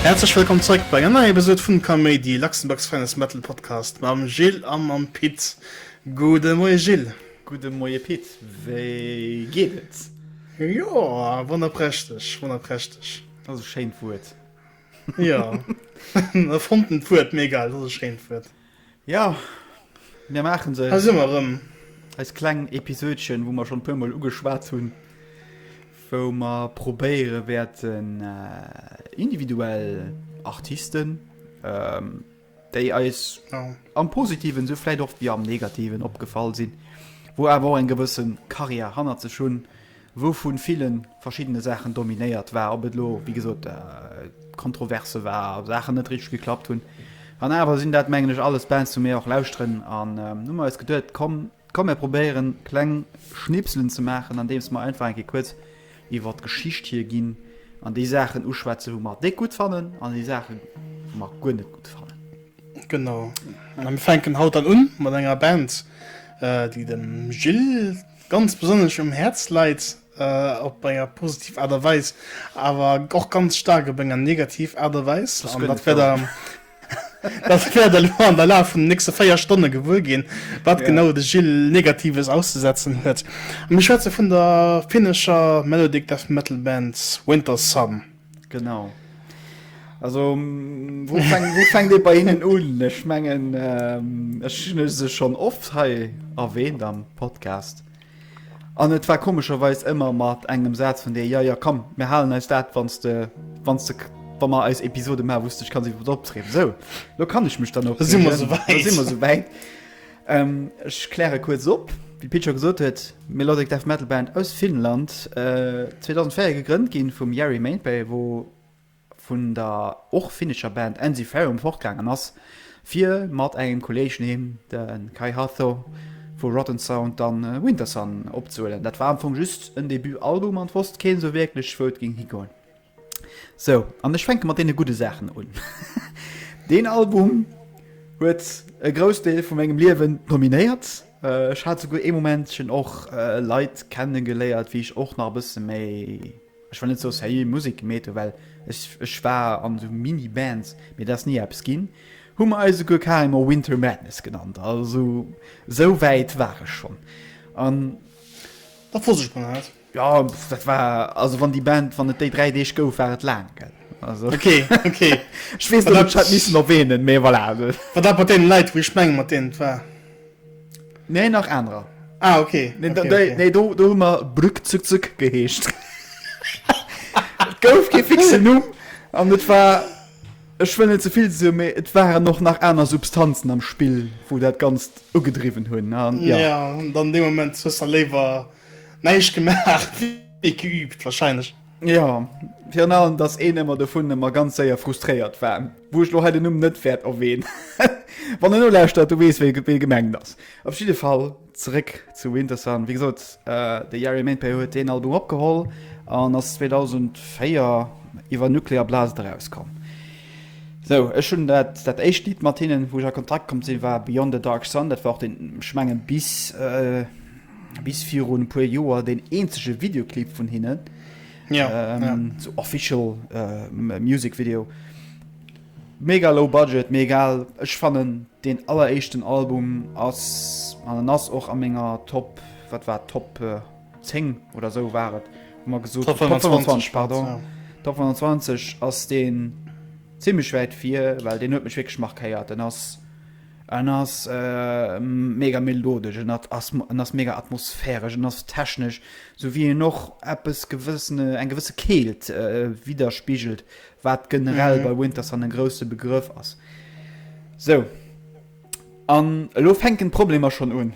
Häerzlech wëllkomm zréck bei enger neier Episod vum Kaméidi, Luxembourg's Finest Metal Podcast mam Gilles a mam Pit. Gudde Moie Gilles. Gudde Moie Pit, wéi geet et? Joer, wonnerprächteg, wonnerprächteg. Dat ass e schéint Wuert. Ja e fonten d'Wuert méi geil, dat ass e schéint Wuert. Ja mir maache se. Hei si mer erëm. Eist kleng Episoudchen, wou mer schonn e puer Mol ugeschwat hunn, wou mer probéiere wäerten individuell Artisten, déi eis am Positiven esou vläit och wéi am Negativen opgefall sinn, wou awer och eng gewësse Karriär hannert sech hunn, wou vu ville verschiddene Saachen dominéiert war, ob et elo, wéi gesot, Kontroverse war, Saachen net richteg geklappt hunn. An awer sinn dat, mengen ech, alles Bands, wou mir och lauschteren. An hu mer eis geduet, komm, Komm mir probéieren kleng Schnipselen ze maachen andeems mer einfach eng Kéier kuerz iwwert d'Geschicht hier ginn an déi Saachen uschwätzen wou mer déck gutt fannen an déi Saachen wou mer guer net gutt fannen. Genau, a mir fänken haut dann un mat enger Band déi dem Gilles ganz besonnesch um Häerz leit, op enger positiv Aart a Weis awer och ganz staark op enger negativ Aart a Weis an dat wär der Dat wäert der elo an der Laf vun den nächste 4 Stonne gewuer ginn, wat genau de Gilles Negatives auszesetzen huet. A mir schwätze vun der finnescher Melodic Death Metal Band Winter Sun. Genau. Also wou fänkt, wou fänkt ee bei hinnen un? Ech mengen, ech hunn se schonn oft hei erwähnt am Podcast. An et war komescherweis ëmmer mat engem Saz vun deer, ja, ja, komm, mir halen eis dat, wann s de, wann s de, wa mer eis Episode maachen, wou s de dech kanns iwwer wat opreegen. Sou, elo kann ech mech dann opreegen. Elo si mer souwäit. Elo si mer souwäit. Ech kläre kuerz op, wéi d'Pit scho gesot huet, Melodic Death Metal Band aus Finnland, 2004 gegrënnt gi vum Jari Mäenpää, wou, vun der och finnescher Band Ensiferum fortgaangen ass, fir mat engem Kolleeg, neem de Kai Hatho vu Rotten Sound, dann Wintersun opzehuelen. Dat war am Fong just en Debut-Album an et wosst keen esou wierklech, wou et géing higoen. Sou, an ech fänke mat deene gudde Saachen un. Deen Album huet e Groussdeel vu mengem Liewen dominéiert. Ech hat souguer ee Momentchen och Leit kennegeléiert, wéi ech och nach e bësse méi. Ech wëll net sou sérieux Musek meete well ech war an sou mini Bands mee dat ass ni eppes ginn, hu mer eis souguer karemer Winter Madness genannt, also sou wäit war ech schonn an. Da froos ech mol hat. Jo dat war also wann déi Band wann et déi 3 Deeg gouf war et laang gell also ok ok ech weess net ob ech dat missen erwähnen mee voilà. Wat dat mat deenen Leit wou ech mengen mat deenen et war. Nee nach anerer. Ah, okay. Nee, okay, okay. nee do, do hu mer Brück zuck zuck geheescht. Et gouf kee fixe Numm an et war ech wëll net zevill se méi et waren noch nach aner Substanzen am Spill, wou dat ganz ugedriwwen hunn. Ja. ja an de Moment hues der léiwer neicht gemaach geübt wahrscheinlech. Jo, virun allem dass een ëmmer dovun ëmmer ganz séier frustréiert war, wou ech lo hei den Numm net wäert erwäen. Wann en nolauschtert, du weess wee wee gemengt ass. Op jidde Fall zeréck zu Wintersun. Wéi gesot, de Yari Maintpay huet deen Album opgeholl an ass 2004 iwwer Nuclear Blast erauskomm. Sou, ech hunn dat dat éischt Lidd mat hinnen, wou ech a Kontakt komm sinn, war Beyond a Dark Sun. Dat war och deen, ech mengen bis, bis virun e puer Joer den eenzege Videoclip vun hinnen. Ja, ähm, ja. So official äh, Music Video. Mega low budget, mé egal. Ech fannen den alleréischten Album ass an den ass och a menger Top wat war Top äh, 10 oder so waret. Ma gesot Top 25 pardon. Ja. Top 25 ass den ziemlich wäit vir, well den huet mech wegschmach keiert. Den ass En ass mega melodesch, en ass mega atmosphäresch, en ass technesch, sou wéi en och eppes gewëssene, eng gewësse Keelt widderspigelt, wat generell bei Wintersun e grousse Begrëff ass. Sou, an elo fänken d'Problemer schonn un,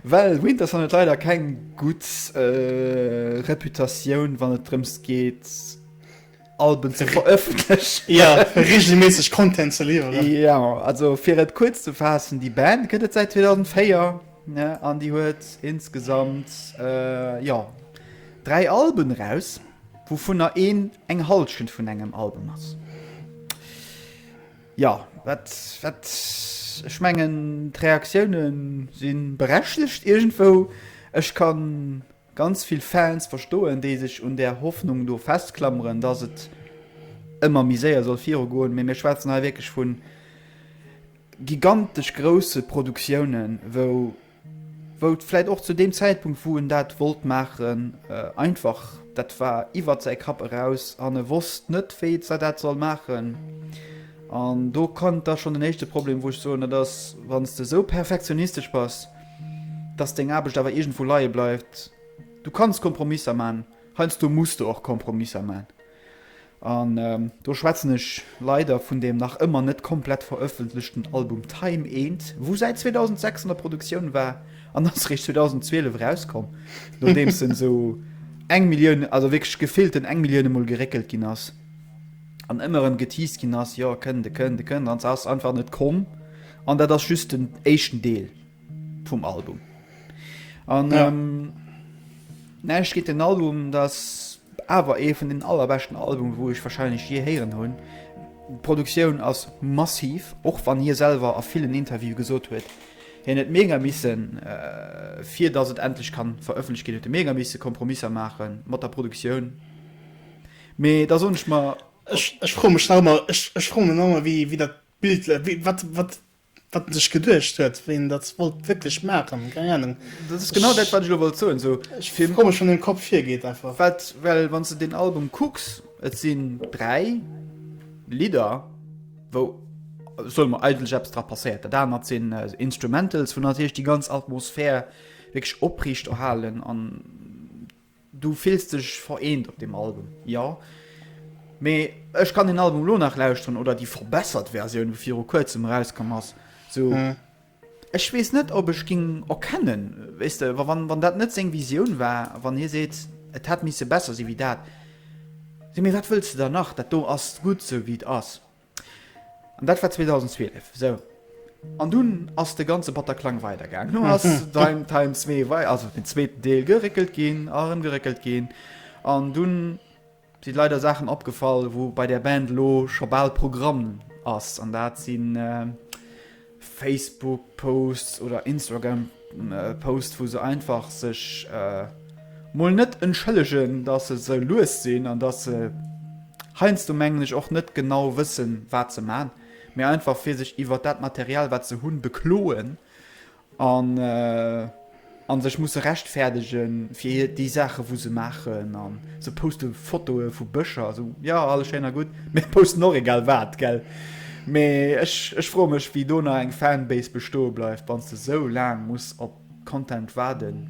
well Wintersun huet leider keng gutt Reputatioun, wann et drëms geet, Alben ze verëffentlechen. Jo, reegelméisseg Content ze liwweren. Jo, also fir et kuerz ze faassen, déi Band gëtt et säit 2004, ne, an déi huet insgesamt, jo, dräi Alben eraus, wouvunner een eng Halschent vun engem Album ass. Jo, wat, wat, ech mengen d'Reaktioune si berechtegt iergendwou. Ech kann Ganz vill Fans verstoen, déi sech un där Hoffnung do festklameren, dass et ëmmer méi séier soll viru goen, mee mir schwätzen hei wierklech vu gigantesch grousse Produktiounen, wou wou et vläicht och zu deem Zäitpunkt, wou en dat wollt maachen, einfach, dat war iwwert säi Kapp eraus an e wosst net, wéi et sa dat soll maachen. An do kënnt da schonn den éischte Problem, wou ech soen, dat ass, wann s de esou perfektionistesch bass, dass deng Aarbecht awer iergendwou leie bleift. Du kanns Kompromisser man, heiansdo muss de och Kompromisser man. An. Do schwätzen ech leider vun dem nach ëmmer net komplett verëffentlechten Album Time eent, wou säit 2006 an der Produktioun war an ass réischt 2012 erauskomm, nodeems en esou eng Millioun, also wierklech gefillten eng Millioune mol geréckelt ginn ass an ëmmer erëm geteased ginn ass, jo, kënnt e, kënnt e, kënnt e, an se ass einfach net komm. An dat ass just den éischten Deel. vum Album an ja. ähm, näischt geet den Album das awer ee vun den allerbeschten Album wou ech wahrscheinlich je héieren hunn. D'Produktioun ass massiv och wann hie selber a villen Interview gesot huet hien net mega missen äh, fir dass et endlich kann veröffentlicht gin huet mega misse Kompromisser machen mat der Produktioun. Mee da sonch ma Ech, ech fro mech nach immer ech, ech fro mech nach immer wie wie dat Bild wie, wat wat Wat en sech geduecht huet, wéi en dat wollt wierklech maachen, keng Anung. Dat ass genau dat, wat ech elo wollt soen. Sou, ech fir komesch wann den Kopp virgeet einfach. Wat, well wann s de deen Album kucks, et sinn dräi Lidder, wou, solle mer, eigentlech eppes dra passéiert. Dat anert sinn Instrumentals, wou natierlech déi ganz Atmosphär wierklech opriicht erhalen an Du fills dech vereent op deem Album, jo? Mee ech kann den Album elo nach lauschteren, oder déi verbessert Versioun, wou viru kuerzem erauskomm ass, sou. Ech weess net, ob ech géing erkennen, weess de, wa wann wann dat net seng Visioun war, wann hie seet, et hätt misse besser si wéi dat. Sou, mee wat wëlls de dann nach? Dat do ass gutt, sou wéi et ass. An dat war 2012, esou. An dunn ass de ganze Bataclan weidergaangen. Dunn ass Time Time 2 wei-, also den zweeten Deel, geréckelt ginn a erëm geréckelt ginn. An dunn si leider Saachen opgefall, wou bei där Band elo scho bal Programm ass. An dat sinn. Facebook-Posts oder Instagram-Posts, wou se einfach sech äh, mol net entschëllegen, dass se sou lues sinn an dass se heiansdo, mengen ech, och net genau wëssen, wat se man, mee einfach fir sech iwwert dat Material, wat se hunn, bekloen an. Äh, An sech musse rechtfäerdegen fir hir déi Saachen wou se maachen an se poste Fotoe vu Bëscher esou jo alles schéin a gutt mee posten och egal wat gell mee ech ech froe mech wéi do nach eng Fanbase bestoe bleift wanns de sou laang muss op Content waarden.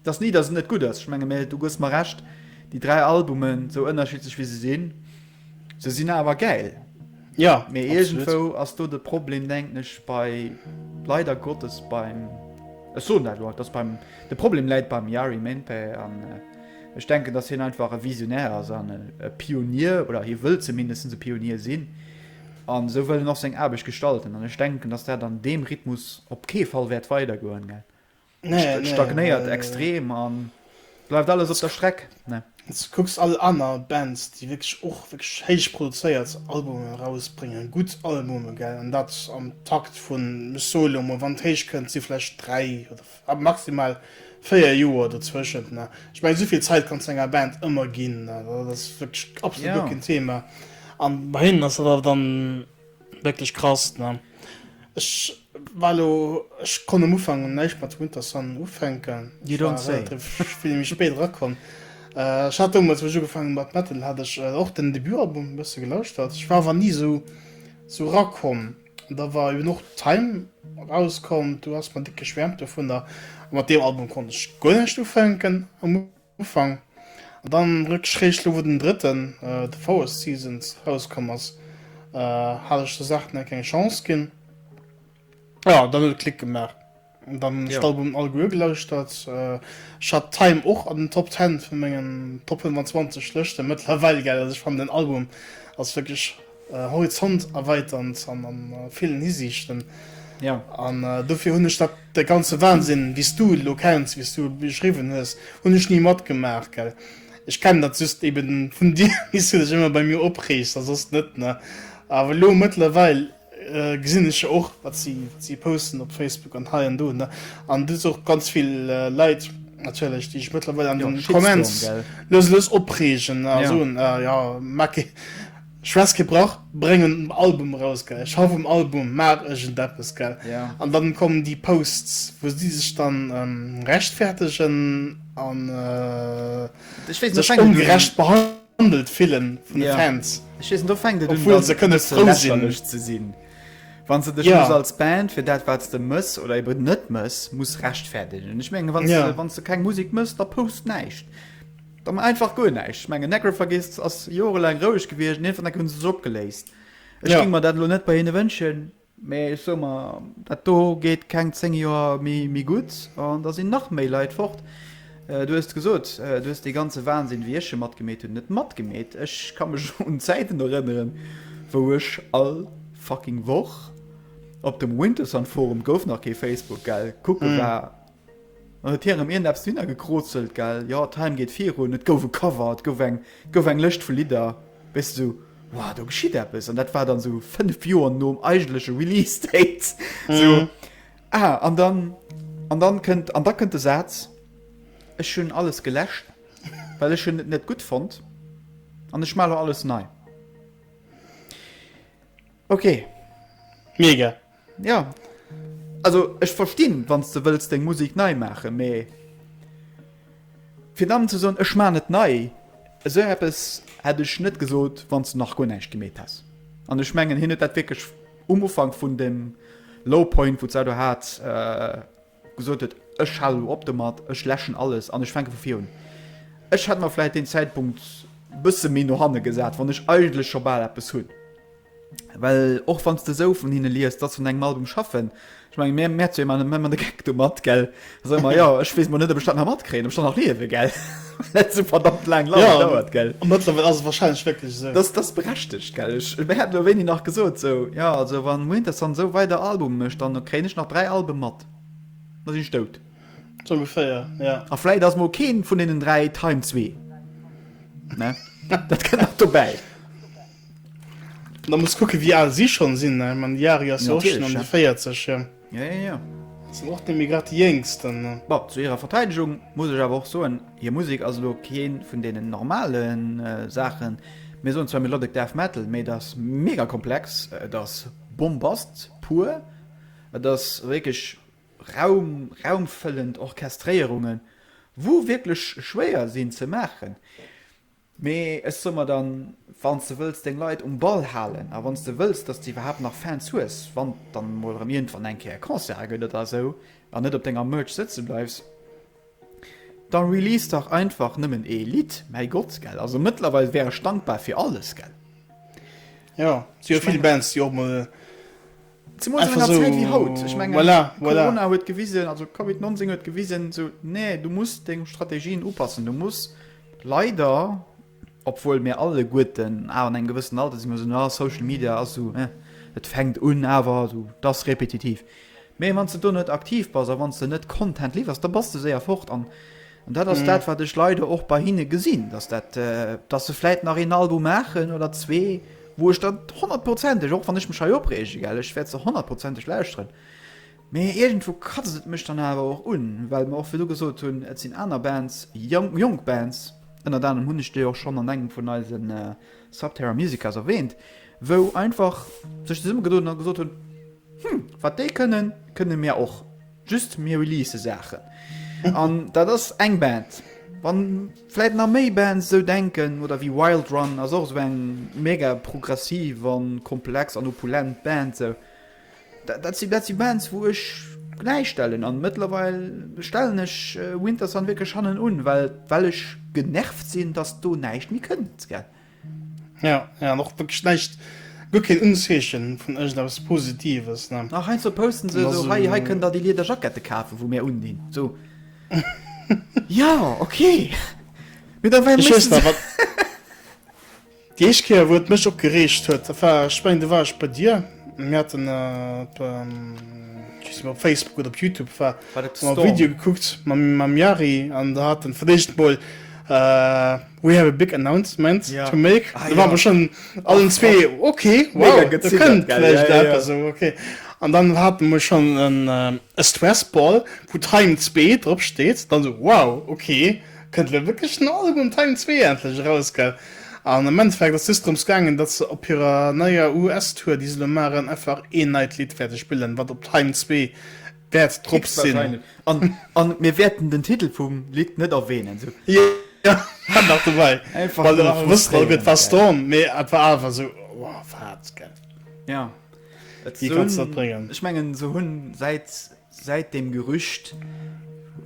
Et ass ni dass et net gutt ass, ech menge du gëss mer Recht déi 3 Albumen sou ënnerschiddlech wéi se sinn, Se sinn awer gäil. Ja, mee iergendwou ass do de Problem, denken ech, bei, leider Gottes, beim, ech soen dat elo einfach, dass beim, de Problem läit beim Yari Minteh an ech denken, dass hien einfach e Visionär ass an e Pionier, oder hie wëll zumindest e Pionier sinn an esou wëll en och seng Aarbecht gestalten an ech denken, dass dat an deem Rhythmus op kee Fall wäert weidergoen. nee, nee, stagnéiert nee, extrem nee. an bleibt alles op der Streck ne kucks all aner Bands die wirklich och wirklich heich produzéiert Albume rausbringen gut Albume ge an dat am Takt vu Solo wann heich könnt sie vielleicht drei oder ab maximal feier Joer dazwischen ne ich mein soviel Zeit kann enger Band immer gin das wirklich absolut ja. Thema an bei hin dann Wierklech krass ne. Ech war elo, ech konnt um Ufank näischt mat Winter Sun ufänken, ech war relativ vill méi spéit erakomm. Ech hat deemools, wou ech ugefaangen hunn mat Metal, hat ech och den Debutalbum e bësse gelauschtert, ech war awer ni esou erakomm. Da war eben och Time erauskomm, do ass mer déck geschwäermt dovunner, a mat deem Album konnt ech guer näischt ufänken am. Ufank, an dann rëck schräg lo wou den drëtten The Forest Seasons rauskomm ass hat ech der Saach net keng Chance ginn, jo dann huet et Klick gemaach an dann hunn ech d'Albumen all gelauschtert. Ech hat Time och an den Top 10 vun mengen Top 25 Lëschten mëttlerweil gell, also ech fannen den Album ass wierklech. Horizont erweitern an an villen Hisiichten an dofir hunn ech dat de ganze Wahnsinn wéi s du elo kenns, wéi s du e beschriwwen hues, hunn ech ni matgemaach gell. Ech kennen dat just eben vun dir wéi s du dech ëmmer bei mir opreegs a soss net ne. Awer elo mëttlerweil gesinn ech jo och wat si wat si posten op Facebook an hei an do ne an du hues och ganz vill Leit natierlech déi sech mëttlerweil an den Comments loosse opreegen a soen jo maak kee Stress kee Brach, bréng en Album eraus gell, schaff um Album, maach iergendeppes gell. An dann kommen déi Posts wou si sech dann rechtfäertegen an sech ongerecht behandelt fillen vun de Fans. Ech weess net, do fänkt et un dann e bësse lächerlech ze sinn, wann s de dech muss als Band fir dat wat s de mëss oder eben net mëss muss rechtfäertegen. Ech mengen wann s de keng Musek mëss, da post näischt. Da man einfach guer näischt. Ech mengen Necrophagist ass jorelaang roueg gewiescht an ierfernacke hunn se sech opgeléist. Ech Ja. géing mer dat elo net bei hinne wënschen, mee ech soe mer, dat do geet keng 10 Joer méi méi gutt an da sinn nach méi Leit fort. Du hues et gesot, du hues dee ganze Wahnsinn, wéi ech e matgemeet hunn, net matgemeet. Ech ka mech un Zäiten erënneren, wou ech all fucking Woch op dem Wintersun-Forum, gouf nach kee Facebook, gell, kucke war, An et hiere mir näpst hinner gekrozelt, gell? Jo, d'Heim geet virun. Et gouf e Cover, et gouf eng, et gouf eng Lëscht vu Lidder. Wéist esou, Wow, do geschitt eppes. An dat war dann esou fënnef Joer nom eigentleche Release Date. Esou, ah, an dann, an dann kënnt, an da kënnt de Saz, Ech hunn alles geläscht, well ech hunn et net gutt fonnt, an ech maache lo alles nei. Okay. Mega. Ja. Also ech verstinn, wann s de wëlls deng Musek nei maachen, mee fir dann ze soen, ech maachen et nei, esou eppes hätt ech net gesot, wann s de nach guer näischt gemeet häss. An ech mengen, hien huet dat wierklech um Ufank vun deem Low Point, wou s de do hats, Gesot huet, ech halen elo op domat, ech läschen alles an ech fänke vu vir un. Ech hätt mer vläit deen Zäitpunkt e bësse méi no hanne gesat, wann ech eigentlech scho bal eppes hunn. Well och wann s de esou vun hinne liest, dass se un engem Album schaffen, ech mengen, mir märze jo ëmmer de Geck domat, gell, da soe mer, jo, ech weess emol net, ob ech dat nach matkréien, ob ech dann nach liewen, gell. Net sou verdammt laang langer ja, dauert gell. Mëttlerweil ass wahrscheinlech wierklech esou. Dass dass berechtegt gell. Ech mir hat lo wéini nach gesot sou ja also wann Winters dann esou weider Album mécht dann kréien ech nach 3 Alben mat da sinn ech dout. Sou ongeféier ja. A vläit ass mol keen vun deenen 3 Time zwee ne dat kënnt nach dobäi. Da muss kucke wéi al si schonn sinn ne. Mä den Yari ass jo och schonn an de 40 jo. Ja, ja, ja. Et sinn och nemme grad déi Jéngst dann. Bon, zu hirer Verteidegung muss ech awer och soen, hir Musek ass elo kee vun deenen normalen Saachen. Mir soen zwar Melodic Death Metal, mee et ass mega komplex, et ass Bombast pur, et ass wierklech Raum, raumfëllend Orchestréierungen, wou wierklech schwéier sinn ze maachen. Mee ech soe mer dann, Wann s de wëlls deng Leit um Ball halen a wann s de wëlls, datt s de iwwerhaapt nach Fans hues, wann et dann emol erëm iergendwann eng Kéier Concerte gëtt oder esou an net op denger Merch sëtze bleifs, da release dach einfach nëmmen ee Lidd, mäi Gott, gell. Also mëttlerweil wär ech dankbar fir alles, gell. Jo, et si jo vill Bands, déi och emol. Zemools an enger Zäit wéi haut. Ech mengen, Corona huet gewisen, also Covid 19 huet gewisen, esou, nee, du muss deng Strategien upassen. Du muss leider, obwuel mir alleguerten awer an engem gewëssen Alter sinn, mir soen, ah, Social Media ass esou, eh, et fänkt un, awer esou, et ass repetitiv. Mee wann s de do net aktiv bass a wann s de net Content liwwers, da bass de séier fort. An dat ass dat, wat ech leider och bei hinne gesinn, dass dat, dass se vläit nach een Album maachen oder zwee, wou ech dann honnertprozenteg, och wann ech mech hei opreege, gell, ech wäert se honnertprozenteg lauschteren, mä iergendwou kratzt et mech dann awer och un, well mer och virdu gesot hunn, et sinn aner Bands, jonk, jonk Bands, ënnert anerem hunn ech déi och schonn an engem vun eise Subterra Musicas erwähnt, wou einfach sech zesummegedoen hunn a gesot hunn, Hm, wat déi kënnen, kënne mir och. Just mir release Saachen. An dat ass eng Band. Wann vläit nach méi Bands esou denken, oder wéi Wild Run ass och esou eng mega progressiv an komplex an opulent Band esou. Dat si dat si Bands wou ech gläichstellen an mëttlerweil stellen ech Wintersun wierklech hannen un well well ech genervt sinn dass do näischt méi kënnt gell. Ja, ja och wëkleg näischt, guer keen Unzeechen vun ëgent eppes Positives, ne. Ach, heiansdo posten se esou, hei, hei kënnt der déi Lieder Jackette kafen, wou mir undinn, so. Jo, okay, mee da wei musse se. Déi éischt Kéier wou et mech opgereegt huet, dat war, ech mengen, do war ech bei dir, mir haten op, ech weess net, op Facebook oder op Youtube war, hu mer e Video gekuckt mam Yari an der hat en, fir d'éischt mol, We have a big announcement to make. Da ware mer schonn allen zwee, ok, wow, dat kënnt vläicht eppes. An dann hate mer schonn e Stress-Ball, wou Time zwee drop steet. Dann esou, wow, ok, kënnt elo wierklech den Album Time zwee endlech eraus, gell? An am Endeffekt ass just drëms gaangen, datt se op hirer neier US-Tour, déi se elo maachen, einfach een neit Lidd wäerte spillen, wat op Time zwee. wäert drop sinn an mir wäerten den Titel vum Lidd net erwähnen. Ech mengen se hunn säit dem Gerücht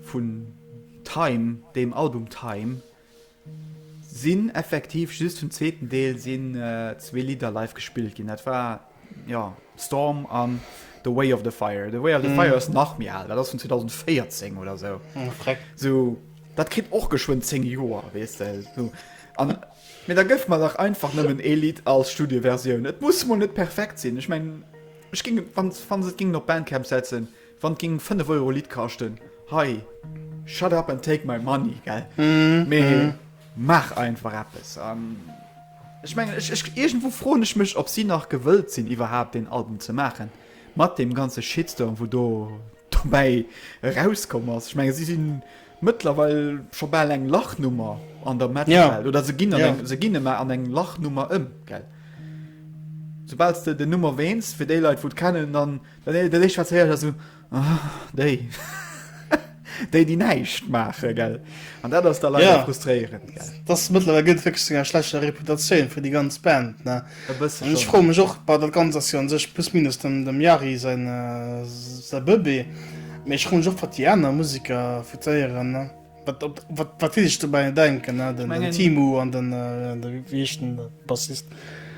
vun Time, dem Album Time, Sinn effektiv just vum zweeten Deel sinn zwee Lidder live gespillt ginn. Dat war jo Storm an The Way of the Fire. The Way of the mm. Fire ass nach mir al, dat ass vun 2014 oder so. Mm, so dat kritt och geschwun 10 Joer wees se so. An mir da gëft man nach einfach nëmmen Elit als Studioversioun. Et muss mo net perfekt sinn. Ech meng Ech ging wann se gingen op Bandcamp setzen. Wann ging 5 Euro Lidd kaschten hei shut up and take my money gell mee maach einfach eppes an ech mengen ech ech iergendwou froen ech mech ob si nach gewëllt sinn iwwerhaapt deen Album ze maachen mat deem ganze Shitstorm wou do dobäi erauskomm ass. Ech menge si si mëttlerweil scho bal eng Lachnummer an der Metalwelt oder se ginn an eng se ginn ëmmer an eng Lachnummer ëm gell soubal s de den Numm erwähns fir déi Leit wou et kennen dann Dat dat éischt wat ze héieren ass esou, oh déi, déi déi näischt maachen, gell. An dat ass da leider Ja. frustréierend, gell. Dass mëttlerweil gëtt wierklech zu enger schlechter Reputatioun fir déi ganz Band, ne. E bësse An ech schon. froe mech och, bah dat Ganzt ass jo un sech plus minus dem dem Yari säin säi Bëbee, mee ech froe mech och wat déi aner Museker votéieren, ne, wat op wat wat déi sech dobäi denken, ne, den mengen- Timu an den de wéi heescht den Bassist?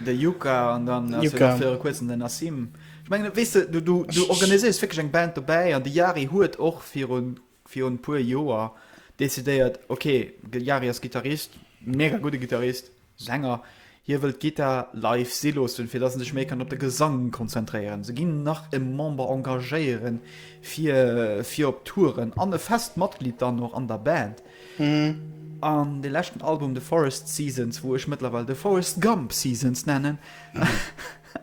De Yuka an dann ass jo Yuka. nach viru kuerzem den Nassim. Ech mengen, weess de, du, du, du organiséiers wierklech eng Band dobäi an de Jari huet och viru, virun e puer Joer decidéiert, okay, de Jari ass Gittarist, mega gudde Gittarist, Sänger, hie wëllt d'Gittar live si loossen, fir datt en sech méi kann op de Gesang konzentréieren. Se ginn nach e Member engagéiere fir, fir op Touren an e fest Matglied dann och an der Band. An de leschten Album The Forest Seasons, wou ech mëttlerweil The Forest Gump Seasons nennen,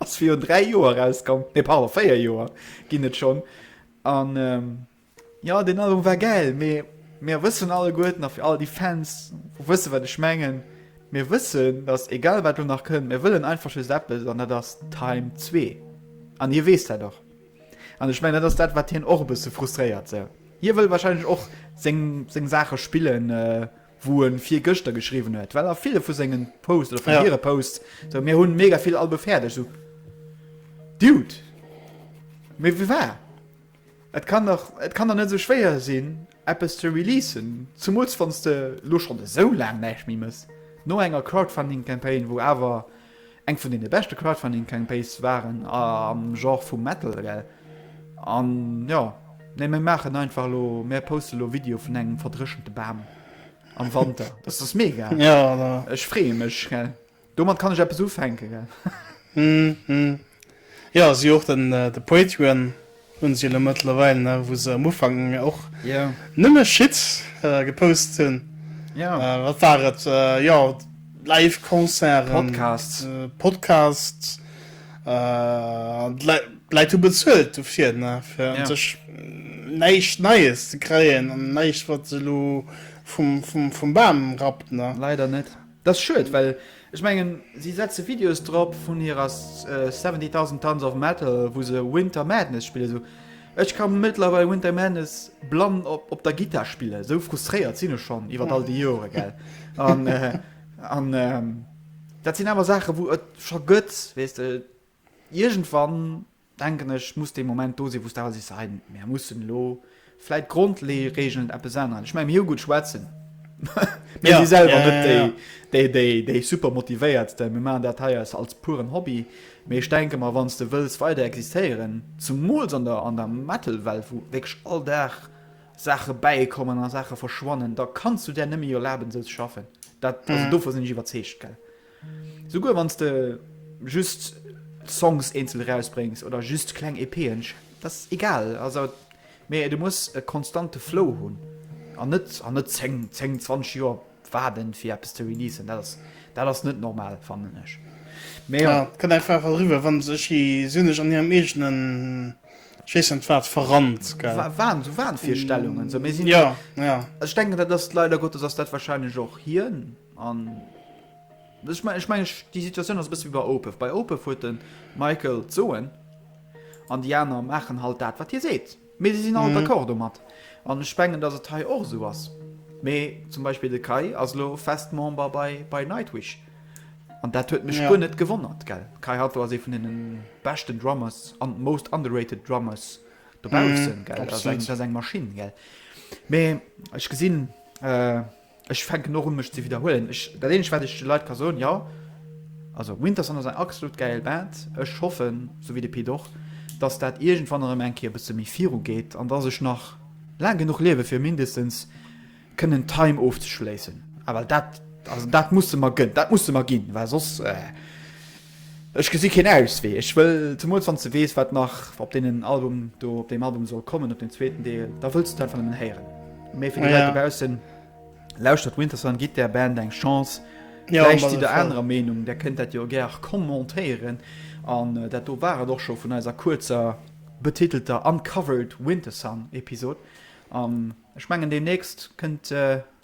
Ass viru 3 Joer rauskomm, nee pardon 4 Joer ginn et schonn an jo deen Album war gäil, mee mir wëssen alleguerten a fir all déi Fans wou wësse wat ech mengen, mir wëssen datt egal wat elo nach kënnt, mir wëllen einfach just eppes an dat ass Time zwee an hie weess dat och an ech mengen dat ass dat wat hien och e bësse frustréiert. Sou hie wëll wahrscheinlech och seng Saache spillen. wou en virgëschter geschriwwen huet, well a ville vu sengen Posts oder vun hire Posts, esou, mir hunn mega vill Albe fäerdeg, esou, Dude, mee wie war, et kann dach, et kann dach net esou schwéier sinn, eppes ze releasen, zemools wann s de elo schonn esou laang näischt méi mëss, no enger Crowdfunding-Campaign, wou awer. Eng vun den beschte Crowdfunding Campaise waren am Genre vum Metal gell? An jo nee mir maachen einfach elo mir posten elo Video vun engem verdréchente Bam am Wanter dass ass mega ech freeë mech gell domat kann ech eppes ufänke gell. Hm hm jo si och den de Patreon. Hun se elo mëttlerweil nach wou se am Ufank och nëmme Shit gepost hun, wat war et, jo live Concerten, Podcasts, d'Leit hu bezuelt dofir fir un sech näischt Neies ze kreien an näischt wat se elo vum Bam rappt. Leider net. Dat ass schued, well ech mengen, si setze Videos drop vun hirer Seventy Thousand Tons of Metal, wou se Winter Madness spillen. Esou, ech ka mëttlerweil Winter Madness blann op der Gittar spillen, esou frustréiert sinn ech schonn iwwer all déi Joren, gell. An, an dat sinn awer Saachen, wou et scho gëtt, weess de, iergendwann. denken ech, muss dee Moment do sinn, wou s de awer sees, hei, mir mussen elo vläit d'Grondregeln eppes änneren. Ech menge mir hu gutt schwätzen, mä mir si selwer net déi Supermotivéiertsten, mir maachen dat hei eis als puren Hobby. Mee ech denke mer, wann s de wëlls weider existéieren, zemools an der Metal-Welt, wou wierklech all Dag Saache bäikommen a Saache verschwannen, da kanns du där net méi erlaben, esou ze schaffen. Dat, also dovun sinn ech iwwerzeegt, gell. Souguer wanns de just Songs eenzel erausbréngs oder just kleng EP'en, dass egal, also mee du muss e konstante Flow hunn an net an net 10, 10, 20 Joer waarden fir eppes ze releasen, dat ass dat ass net normal fannen ech. Mee jo. Et kënnt einfach eriwwer wann se si sinn ech an hirem eegenen je ne sais wat verrannt, gell. Wahn, sou Wahnvirstellungen, sou mir sinn, jo, jo, jo. Ech denken dat ass leider Gottes ass dat wahrscheinlech och hien. An ech mengen, ech mengen, déi Situatioun ass e bësse wéi bei Opeth. Bei Opeth huet de Michael d'Soen an déi aner maachen halt dat, wat hie seet. Mee si sinn all d'accord domat. An ech mengen, datt et hei och esou ass. Mee zum Beispill de Kai ass elo fest Member bei Nightwish. An dat huet mech guer net gewonnert, gell. Kai Hatlo ass ee vun deene beschten Drummers an most underrated Drummers dobaussen, gell. Dat ass eng Maschinn, gell. Mee ech gesinn. Ech fänken och un mech ze widderhuelen. Ech dat eenegt wat ech de Leit ka soen, jo also Winterson ass eng axslut gäil Band. Ech hoffen, sou wéi de Pit och, dass dat iergendwann erëm eng Kéier e bësse méi viru geet an dass ech nach laang genuch liewe fir mindestens kënnen Time ofzeschléissen. Well dat also dat musse mer gënn, dat musse mer ginn, well soss eh. Ech gesi keen Auswee. Ech wëll, zemools wann s de weess, wat nach op deenen Album do, op deem Album soll kommen, op deem zweeten Deel, da wëlls du et einfach nëmmen héieren. Mee fir déi Leit dobaussen, lauschtert Wintersun, gitt där Band eng Chance. Vläicht sidd der anerer Meenung, där kënnt dat jo gär commentéieren. An dat do war et och scho vun eiser kuerzer, betitelter Uncovered Wintersun-Episod. An ech mengen, deemnächst kënnt